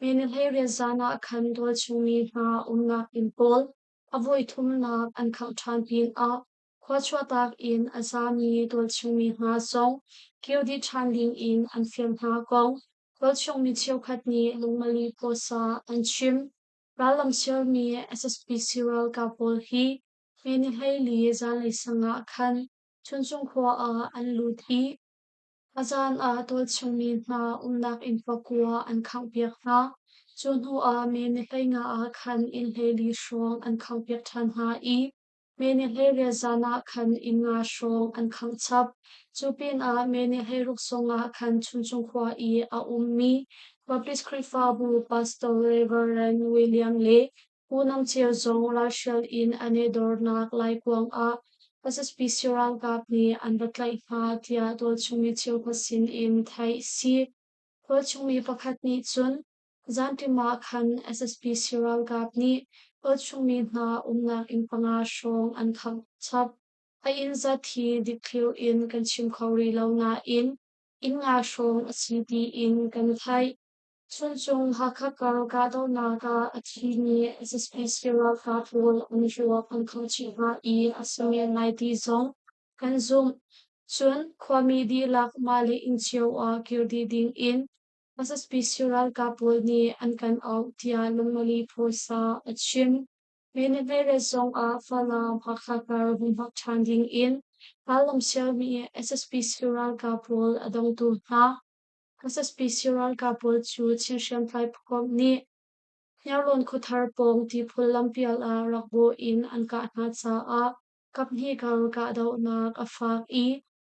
Bethlehemiah zan ah khan tualchungmi hna umnak inn pawl, a voithumnak an khangh ṭhan pinah khua chuahtak in a zami tualchungmi hna zong kir dih ṭhan dingin an fial hna kong tualchungmi cheukhat nih lungmali pawsa an chim. Rallamsialmi SSBC ralkap pawl hi Bethlehemi zanlei sangah khan Chuncung khua ah an lut i A caan ah tualchungmi hna umnak inn pakua an khanghpiak hna. Cu hnuah mi nihleingah ah khan innhleili hrawng an khanghpiak ṭhan hna i mi nihleiriat zan ah khan inn nga hrawng an khangchap. Cu pinah mi nihleiruk sungah khan Chuncung khua i a ummi Baptist Khrihfabu pastor Reverend William le Hunang Cio zong ralhrial in an i dornak laikuang ah SSP si ralkap nih an va tlaih hna tiah tualchungmi cheukhat sin in theih si. Tualchungmi pakhat nih cun zanṭim ah khan SSP si ralkap nih tualchungmi hna umnak inn panga hrawng an khangh chap. A inn zat hi dikthlir in kan chim kho rih lo nain inn nga hrawng a si tiin kan theih. Chuncung Hakha kar kahdohnak ah a thi mi ZSPC ralkap pawl an ruak an khangchih hna i a sungen naiti zong an zumh. Cun khuami dihlak mah le inn cio ah kir dih ding in ZSPC ralkap pawl nih an kan auh tiah Lungmali phaisa a chim. Minute zong ah Falam Hakha kar hun hmak ṭhan ding in rallam sialmi ZSPC ralkap pawl a dongtu hna SSPC ralkap pawl cu Chin hriamtlai pawkawm nih Hniarlawn khuathar pawng tiphul lampial ah rak bawh in an kah hna caah kaphnih kar kahdohnak a faak i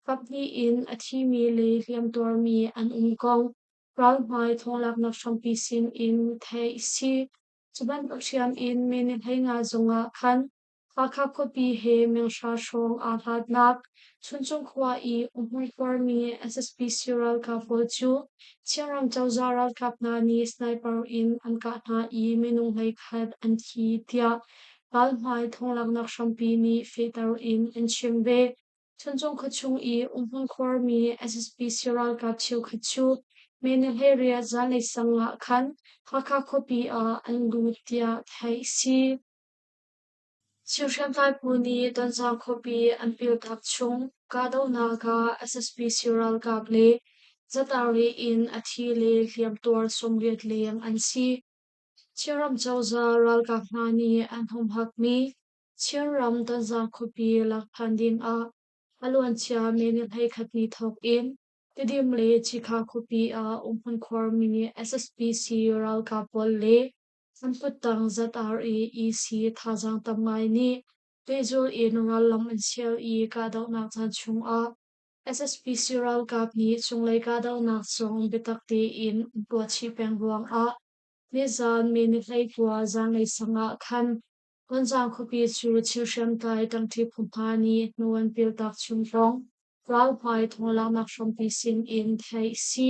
kaphnih in a thimi le hliamtuarmi an um kong ralhmai thawnglaknak hrampi sin in theih a si. Cu bantuk hriam in minihhlei nga zong ah khan Hakha khuapi he minghra hrawng aa hlatnak Chuncung khua i umhmuikuarmi SSPC ralkap pawl cu Chinram cozah ralkap hna nih sniper in an kah hna i minung hleikhat an thi tiah palhmai thawnglanghnak hrampi nih fehter in an chim ve. Chuncung khuachung i umhmuikuarmi SSPC ralkap cheukhat cu May ni hleiriat zanlei sang ah khan Hakha khuapi ah an lut tiah theih a si. Chin hriamtlai phu nih tonzang khuapi an piltak chung kahdohnak ah SSP sii ralkap le zatar rih in a thi le hliamtuar sawmriat leng an si. Chinram cozah ralkap hna nih an humhakmi Chinram tonzang khuapi lak than ding ah a luancia minute hleikhat ni thawk in Tedim le Cikha khuapi ah umhmun khuarmi SSP sii ralkap pawl le Hmunfuttang ZR i EC thazaang tam ngai nih pehzul in rallam an sial i kahdohnak caan chungah SSPC ralkap nih cunglei kahdohnak zong biatak tein an tuahchih peng ruangah nizaan minihhlei kua zanlei sang ah khan Gonzang khuapi cu thil hriamtlai ṭangṭi phu hna nih hnu an piltak chung thawng ralhmai thawng laknak hrampi sin in theih a si.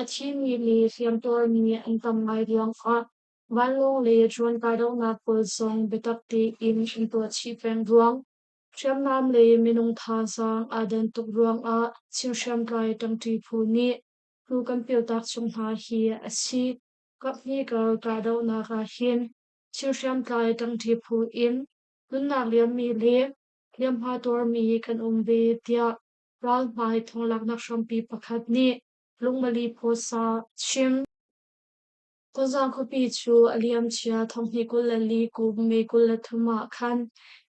A thimi le hliamtuar nih an tam ngai ruangah vanlawng le drone kahdohnak pawl zong biatak tein an tuahchih peng ruang, hriamnam le minung thazaang aa dan tuk ruangah Chin hriamtlai ṭangṭi phu nih phu kan piltak chung hna hi a si. Kaphnikar kahdohnak ahhin Chin hriamtlai ṭangṭi phu in nunnak liammi le hliamhma tuarmi kan um ve, tiah Ralhmai thawlaknak hrampi pakhat nih lungmali phuasa chim. Tonzang khuapi cu a liamcia thonghni kul le li kum May kul le thum ah khan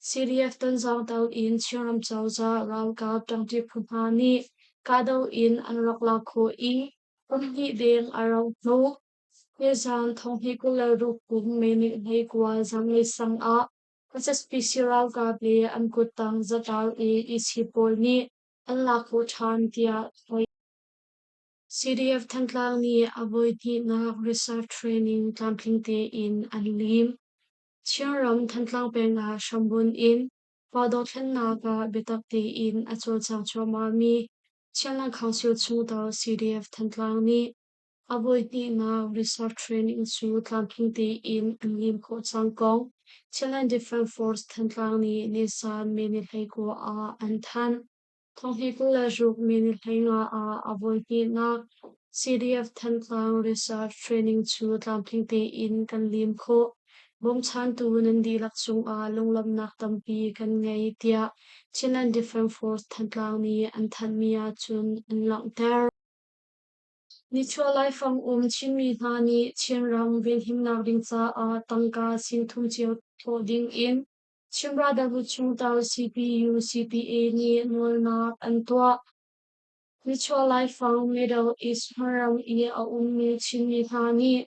CDF Tonzang to in Chinram cozah ralkap ṭangṭi phu hna nih kahdoh in an rak lak khawh i kumhnih deng a rauh hnawh. Nizaan thonghni kul le ruk kum May ni hlei kual zanglei sang ah Khuasaspi si ralkap le an kuttang zatau i isi pawl nih an lak u ṭhan tiah hoi. CDF Thantlang nih a voihnihnak research training tlamtling tein an lim. Chinram Thantlang peng ah hrambunh in fa dothlennak ah biatak tein a cawlcang cuahmahmi Chin Lankhang Sil Chung To CDF Thantlang nih A voihnihnak resort training cu tlamtling tein an lim khawh cang ko. Thailand Defence Force Thantlang nih Nisan minihlei kua ah an thanh. Thonghnih kul le ruk minihlei nga ah a voihnihnak CDF Thantlang Research Training cu tlamtling tein kan lim khawh. Bawmchantu nan dihlak cungah lunglawmhnak tampi kan ngei tiah Thailand Defence Force Thantlang nih an thanhmi ahcun an langhter. Nichuah laifang um Chinmi hna nih Chinram venhimnak ding caah tangka sin thum cio thawh ding in Chin Brotherhood chungtel CPUCPA nih nawlnak an tuah. Nichuah laifang Middle East hmarang i a ummi Chinmi hna nih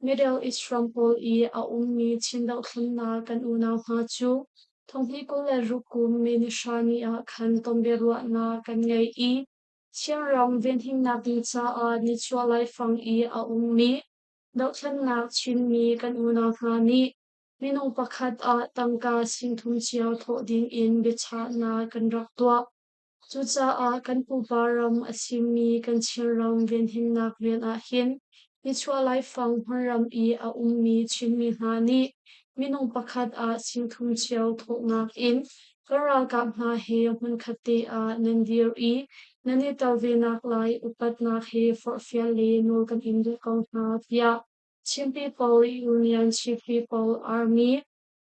Middle East ram pawl i a ummi Chin dohthlennak kan unau hna cu thonghi kul le ruk kum Minnesota ni ah khan tonbiaruahnak kan ngei i Chinram venhimnak ding caah nichuah laifang i a ummi dohthlennak Chinmi kan unau hna nih minung pakhat ah tangka sing thum cio thawh ding in biachahnak kan rak tuah. Cucaah kan pupa ram a thimmi kan Chinram venhimnak rian ahhin nichuah laifang hmunram i a ummi Chinmi hna nih minung pakhat ah chimthum cio thawhnak in kan ralkap hna he hmunkhat te ah nan dir i nan i tel venak lai upatnak he forhfial le nawl kan in duh ko hna tiah Chinpeople Union Chief People Army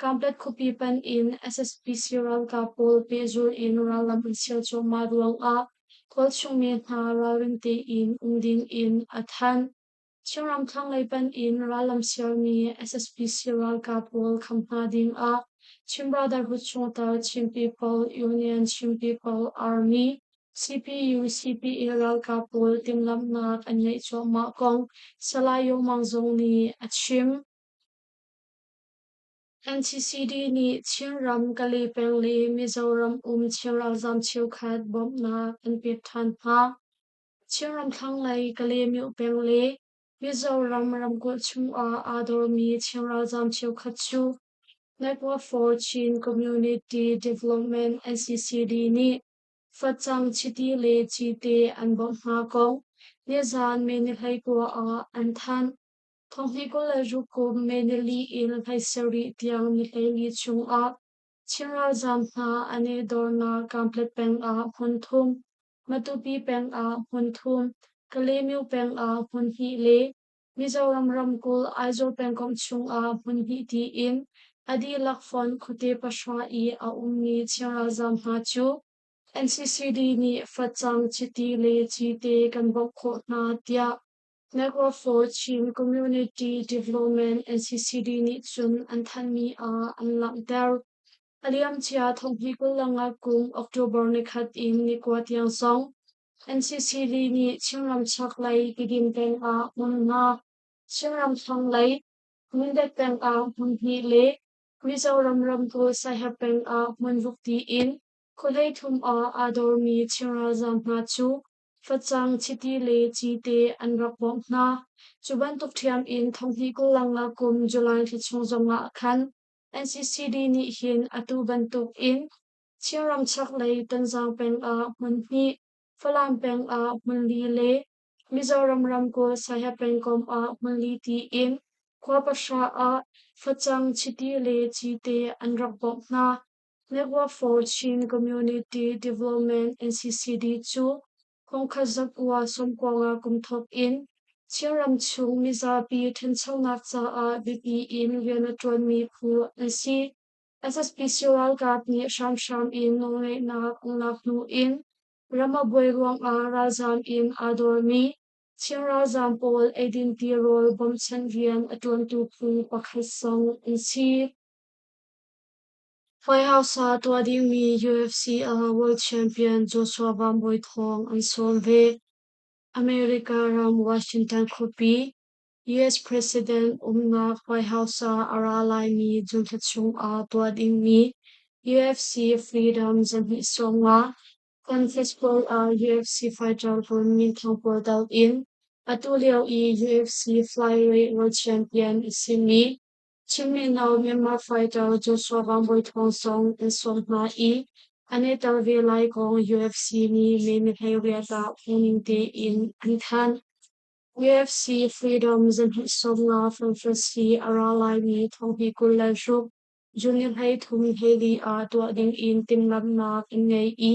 Kamplet khuapi panh in SSPC ralkap pawl pehzul in rallam an sial cuahmah ruangah khual chungmi hna ralrin tein um ding in a thanh. Chinram thlanglei panh in rallam sialmi SSPC ralkap pawl kham hna ding ah Chin Brotherhood chungtel Chin People Union Chin People Army CPU CPA ralkap pawl timhlamhnak an ngeih cuahmah kong Salai Yo Mang Zong nih a chim. NCCD nih Chinram, Kali peng le Mizoram um Chin ralzam cheukhat bawmhnak an pek ṭhan hna. Chin ramthlanglei Kali myo peng le Mizoram ramkulh chungah aa dormi Chin ralzam cheukhat cu Naikwa for Chin Community Development NCCD nih facang chiti le cite an bawmh hna ko. Nizan Menihlei kua ah an thanh. Thonghnikul le rukum Meneli in hlei sarih tiang nihlei chungah Chin ralzaam hna an i dornak Kamplet pengah hmun thum, Matupi pengah hmun thum, Kalemyo pengah hmun hnih le Mizoram ramkulh Aizawl pengkomh chungah hmun hnih tiin a dihlak font khuate pahra i a ummi Chin ralzaam hna cu NCCD nih facang chiti le cite kan bauh khawh hna tiah Network for Chin Community Development NCCD nih cun an thanhmi ah an langhter. A liamcia thonghi kul langah kum October nikhat in nikua tiang zong NCCD nih Chinram chak lei Kidin peng ah hmun nga, Chinram thlang lei Mindat peng ah hmun hnih le Mizoram ramkulh Saheb peng ah hmun ruk tiin khuadei thum ah aa dormi Chin ralzaam hna cu Facang, chiti le ci te an rak bawmh hna. Cu bantuk ṭhiam in thonghnih kulang ah kum July thla chung zong ah khan NCCD nih hin atu bantuk in Chinram chaklei Tanzang peng ah hmun hnih, Falam peng ah hmun li le Mizoram ramkulh Saiha pengkomh ah hmun li tiin khua pahra ah facang, chiti le ci te an rak bawmh hna. Network for Chin Community Development NCCD cu kumkhat zakua sawmkuanga kum thawk in Chinram chung mizapi ṭhanchonak caah biapi in rian a ṭuanmi phu an si. SSP ralkap nih hramhram in nawlngeihnak an lak hnu in Ramabuai ruangah ralzaam in aa dormi Chin ralzaam pawl eidin tirawl bawmchanh rian a ṭuantu phu pakhat zong an si. Hmaihaasa tuah dingmi UFC ah world champion Joshua Van Bawi thawng an sawm ve. America ram Washington khuapi, US President umnak hmaihaasa a ra laimi zumhla chungah tuah dingmi UFC Freedom zarhnih sawmnga San Francisco ah UFC fighter pawl minthang pawl doh in atu lio i UFC flyweight world champion a simi Chimrino Myanmar fighter Joshua Wang Bawi Thawng Song an sawm hna i an i tel ve lai kong UFC nih menhlei riatah phungning tein an thanh. UFC Freedom zanhsawm nga Francis a ra laimi thongpi kul le hruk junior hlei thum heli ah tuah ding in timhlamhnak an ngei i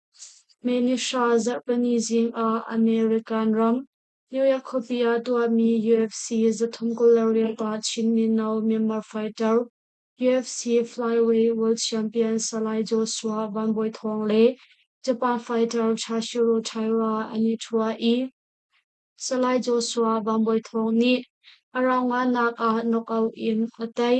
Manisha zarhpini zingah American ram New York khuapi ah tuahmi UFC zathum kul le riat ah Chin mino Myanmar fighter, UFC flyweight world champion Salai Joshua Van Bawi Thawng le Japan fighter Chashiro Taira an i ṭhua i Salai Joshua Van Bawi Thawng nih a rauhngannak ah knockout in a tei.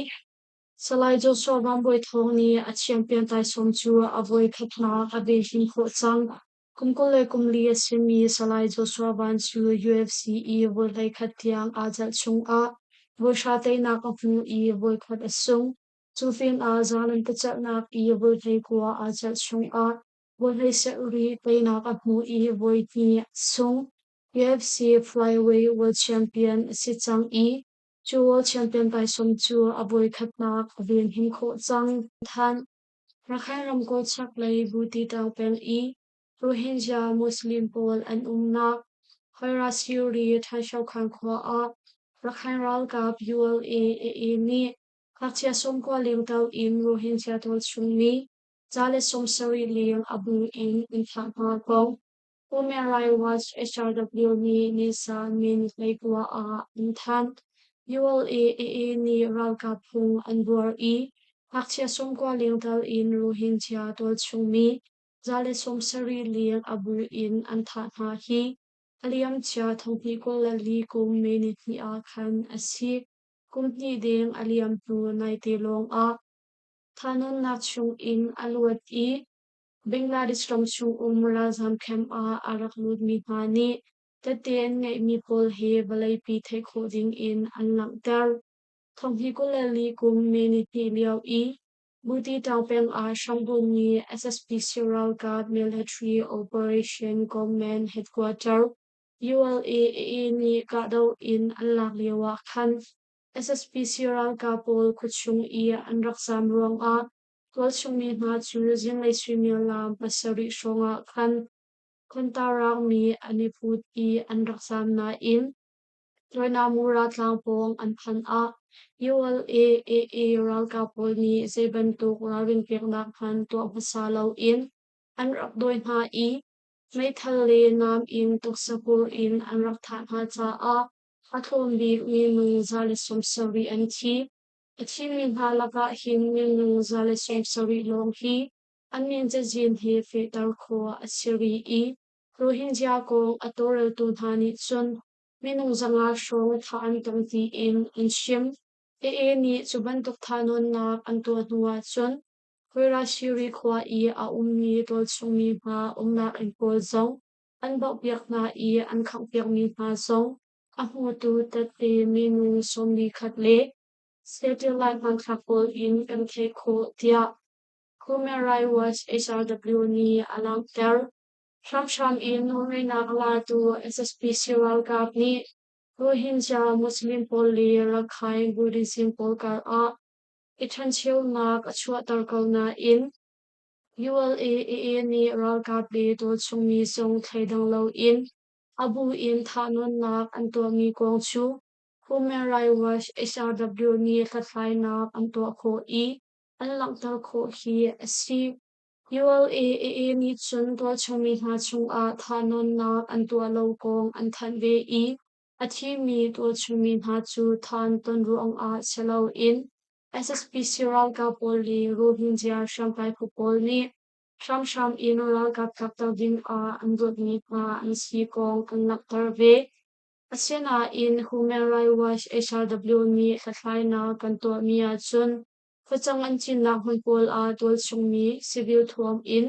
Salai Joshua Mambawi Thawng nih a champion taisawm cu a voi khatnak a beehlin khawh cang. Kum kul le kum li a simi Salai Joshua Van cu UFC i voi hleikhat tiang aa jalh chungah voi hra teinak a hmu i voi khat a sung. Cu film ah zalan pacelhnak i voi hlei kua aa jalh chungah voi hlei sarih teinak a hmu i voi hnih a sung. UFC Flyweight World Champion a si cang i Cu World Champion taisawm cu a voikhatnak a venhim khawh cang. Thanh Rakhine ramkulh chaklei Butitang peng i Rohingya Muslim pawl an umnak Hoiras Yuri Thaisokhan khua ah Rakhine ralkap ULA AA nih ngakchia sawm kua lengto in Rohingya pawl chung mi ca le sawm sarih leng a bung in an thah hna ko. Komerlai Watch HRW nih Nisan min hleikua ah an thanh. ULA AA nih ralkap phung an buar i ngakchia sung kua lengtal in Rohingya tualchungmi za le sawm sarih leng a bu in an thah hna hi a liamcia thongpi kul le li kum minit hnih ah khan a si. Kum hnih deng a liam hnu naite lawng ah thanonnak chung in a luat i Bangladesh ram chung um ralzam camp ah a rak lutmi hna nih tette an ngeihmi pawl hi vawleipi theih khawh ding in an langhter. Thong hi kul le li kum mee nihnih lio i Buti Tang peng ah Shangbun mi SSPC ralkap military operation Gongman headquarter ULAA nih kahdoh in an lak lio ah khan SSPC ralkap pawl kutchung i an rak zam ruangah Tualchungmi hna cu zinglei suimilam pasarih hrawngah khan khontarangmi an i put i an rak zam nain Joinamura tlang pawng an phanh ah ULA-AA ralkap pawl nih zei bantuk ralrin peknak hmanh tuah hmasa loin an rak dawi hna i meithal le nam in tuksapur in an rak thah hna caah a tlawm bikmi nu za le sawm sarih an thi. A thimi hna lakah hin minnu za le seng sarih lawng hi an min cazin he fehter khawh a si rih i Rohingya kong a tawlreltu hna nih cun minung zanga hrawng thah an tong tiin an chim. AA nih cu bantuk thahnawnnak an tuah hnu ahcun Koirashiri khua i a ummi rawlchungmi hna umnak inn pawl zong an bauhpiak hna i an khanghpiakmi hna zong A hmutu tette minu sawmlikhat le satellite hmanthlak pawl in kan theh khawh tiah Human Rights Watch HRW nih a langhter. Hramhram in nawlngeihnak latu SSP si ralkap nih Rohingya Muslim pawl le Rakhine Buddhism pawl kar ah i ṭhancheunak a chuahter ko nain ULA aa nih ralkap le tualchung mi zong thei dang loin A bu in thahnawnnak an tuahmi kong cu Human Rights Watch SAW nih hlathlainak an tuah khawh i an langhter khawh hi a si. ULAAA nih cun tuahchungmi hna chungah thahnawnnak an tuah lo kong an thanh ve i a thimi tuahchungmi hna cu than ton ruangah si loin SSPC ralkap pawl le Rohingya hriamtlai phu pawl nih Hramhram in ralkap kapter dingah an luatmi hna an si kong kan langhter ve. Asinain Human Rights Watch HRW nih hlathlainak kan tuahmi ahcun facang an cinnak hmun pawl ah tualchungmi civil thuam in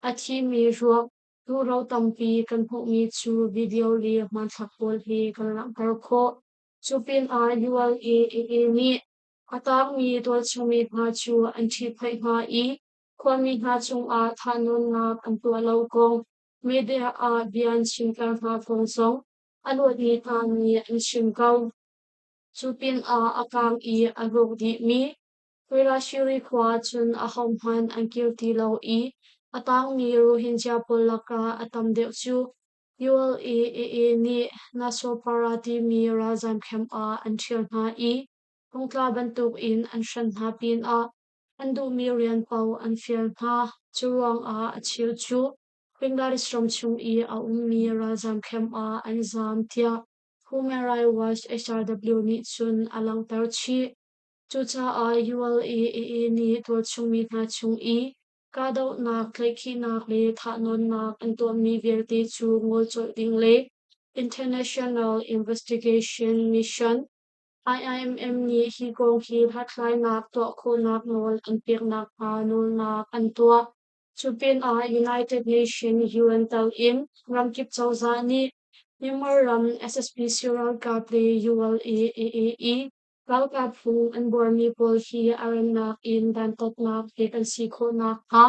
a thimi ruak turo tampi kan hmuhmi cu video le hmanthlak pawl hi kan langhter khawh. Cu pinah ULA nih a tangmi tualchungmi hna cu an ṭhitphaih hna i Khuami hna cungah thanuamnak an tuah lo kong, media ah bia an chimter hna kong zong a luatmi hna nih an chim ko. Cu pinah a kaang i a rawk dihmi Quirashiri khua cun ahohmanh an kir ti lo i a taangmi Rohingya pawl lakah a tam deuh cu ULA-AA nih Nasopara timi ralzam camp ah an ṭhial hna i phungtla bantukin an hranh hna pinah An duhmi rian paoh an fial hna. Curuangah a chir cuh. Bangladesh ram chung i a ummi ralzam camp ah an zaam tiah Human Rights Watch HRW nih cun a langhter chih. Cucaah ULA AA nih tualchungmi hna chung i kahdohnak, tlaihkhihnak le thahnawnnak an tuahmi vialte cu ngol colh ding le International Investigation Mission IMM nih hi kong hi hlathlainak tuah khawhnak nawl an pek nakhnga nawlnak an tuah. Cupinah United Nations UN tal in ramkip cozah nih Myanmar ram SSP ralkap le ULA-AAE ralkap phung an buarmi pawl hi a rannak in dantatnak pek an si khawh nakhnga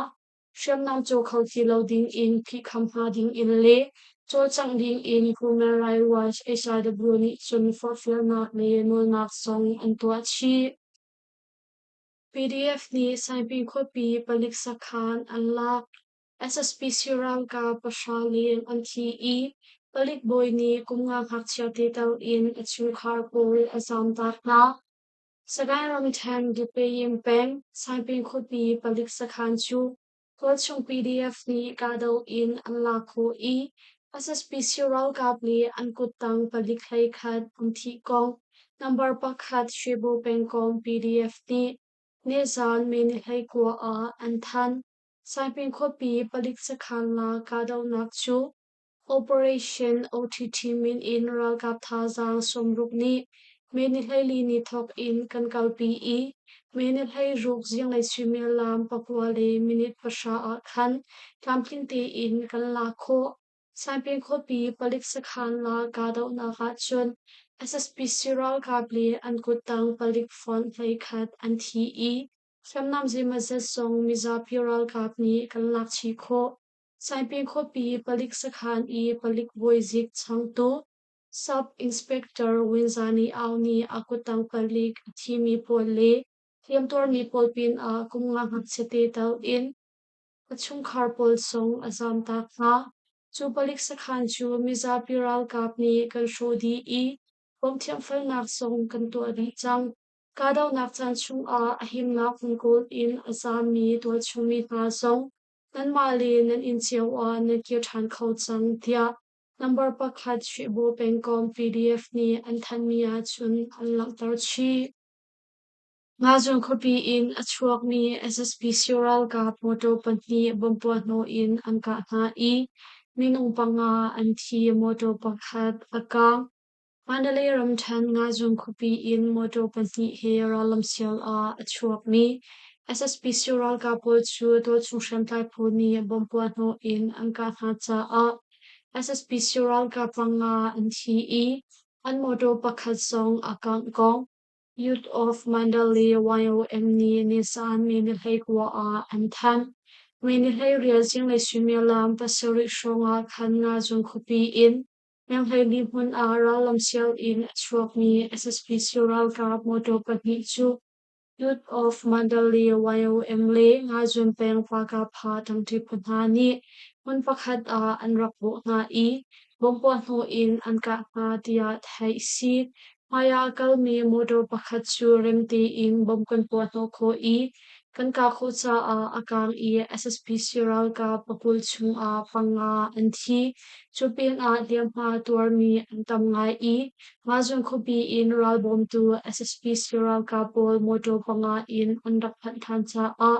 hriamnam caw kho ti lo ding in thi kham hna ding in le cawlcangh ding in Human Rights Watch HRW nih cun forhfialnak le nawlnak zong an tuah chih. PDF nih Saipi khuapi palik sakhan an lak SSP Sirangka pahra leng an thi i palik bawi nih kum nga ngakchia te tal in a chungkhar pawl a zamtak hna. Sagaing ramṭhen Gitpayim peng Saipi khuapi palik sakhan cu tualchung PDF nih kahdoh in an lak khawh i SSP sii ralkap nih an kuttang palik hlei khat an thih kong number pakhat Shibu pengkawng PDF nih nizaan minute hleikua ah an thanh. Saipi khuapi palik sakhan la kahdohnak cu Operation OTT min in ralkap thazaang sawmruk nih Mene hleili ni thawk in kan kalpi i Mene hleiruk zinglei suimilam pakua le minute pahra ah khan tlamtling tein kan lak khawh. Saipem khuapi palik sakhan la kahdohnak ahcun SSPC ralkap le an kuttang palik font hleikhat an thi i hriamnam zeimazet zong mizapi ralkap nih kan lak chih khawh. Saipi khuapi palik sakhan i palik voizik changtuk Sub-Inspector Winzani Aung nih a kuttang palik a thimi pawl le hliamtuarmi pawl pinah kum nga ngakchia te tal in a chungkhar pawl sung a zamtak hna. Cu palik sakhan cu mizapi ralkap nih kan hrawh dih i bawmthiamfalnak sung kan tuah dih cang. Kahdohnak caan chungah a himnak hmun kul in a zammi tualchungmi hna zong Nanmah le nan inn cio ah nan kir ṭhan kho cang tiah nambar pakhat Hrihbu pengkom PDF nih an thanhmi ahcun an langhter chih. Ngazung khuapi in a chuakmi SSP Sio ralkap motor pahnih bom puahhnawh in an kah hna i minung panga an thi, motor pakhat a kaang. Mandalay ramṭhen Ngazung khuapi in motor pahnih he rallamsial ah a chuakmi SSP Sio ralkap pawl cu tualchung hriamtlai pawl nih bomb puahhnawh in an kah hna caah SSP Sio ralkap panga an thi i an motor pakhat zong a kangh kong Youth of Mandalay YOM nih nizaan May-ni-hlei kua ah an thanh. May-ni-hlei rial zinglei suimilam pasarih hrawng ah khan Ngazung khuapi in Yanghleini hmun ah rallam sianginn a chuakmi SSP ralkap motor pahnih cu Youth of Mandalay YOM le Ngazun peng Pakapha tangṭi phu hna nih hmun pakhat ah an rak bawh hna i bomb puahhnawh in an kah hna tiah theih a si. Hmaiah kalmi motor pakhat cu remti in bom kan puah hnawh khawh i kan kah khawh caah a kaang i SSPC ralkap pakul chungah panga an thi. Cu pinah hliamhma tuarmi an tam ngai i Ngazung khuapi in ralbawmtu SSPC ralkap pawl motor panga in an rak phanh ṭhan caah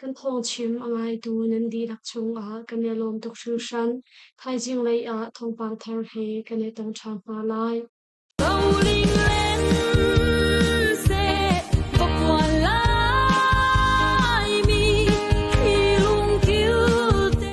Kan thawngchim a ngaitu nan dihlak chungah kan i lawm tuk hringhran. Thaizing lei ah thawngpang thar he kan i tong ṭhan hna lai. Bowling lane seh ka puan laimi hi lungkil te.